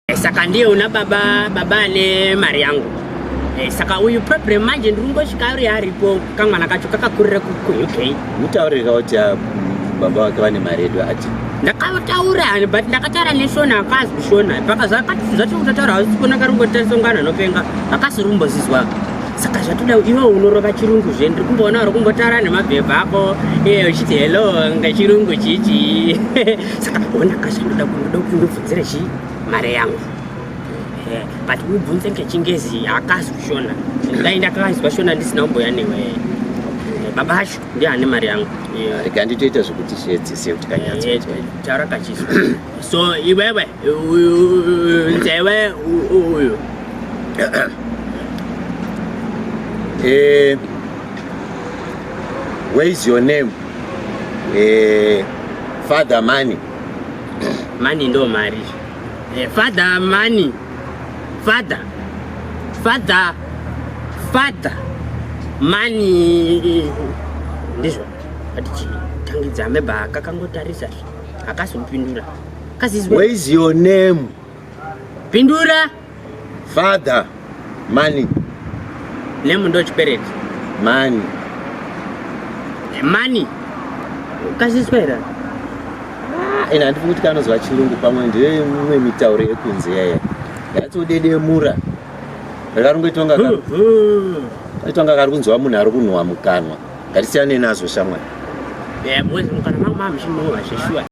Eh, saka ndiye una baba baba ane mari yangu eh, saka uyu problem manje ndiri kungosvika uri aripo kamwana kacho kakakurira kuuk mutaurika kuti ah, baba vake vane mari yedu ati ndakataura but ndakataura neshona akazi kushona paka zvacho kutataura hausi kuona kari kungotasongana nopenga akasi rumbozizwa saka zvatoda iwe unorova chirungu zve ndiri kumboona uri kumbotaura nemabhebha ako iye eh, uchiti hello ngechirungu chichi saka ona kazvanoda kunoda kunobvu dziri chi mare yangu eh, but ubvunze ngechingezi haakazi kushona dai ndakakanzwa shona ndisina kumboya newe eh, baba acho ndiye ane mari yangu eh, rikanditoita zvekuti shedzi se kuti kanyatsotwa taura kachiswa so iwewe nzewe uyu where is your name father money Money ndo mari. Eh, father money. Father. Father. Father. Money. Ndizvo. Ati chini. Tangidza ameba akakangotarisa. Akasopindura. Where is your name? Pindura. Father money. Name ndo chipereti. Money. Money. Ukaziswa here? Ah, ina handifungi kuti kanozwa chirungu pamwe ndiye mimwe mitauro yekunze yaya. Yatodedemura. Rakarungoitonga karo. Itonga kari kunzwa munhu ari kunhuwa mukanwa. Ngatisiyane nazvo shamwari. Yeah, mwezi mukana mama mshimu wa sheshua.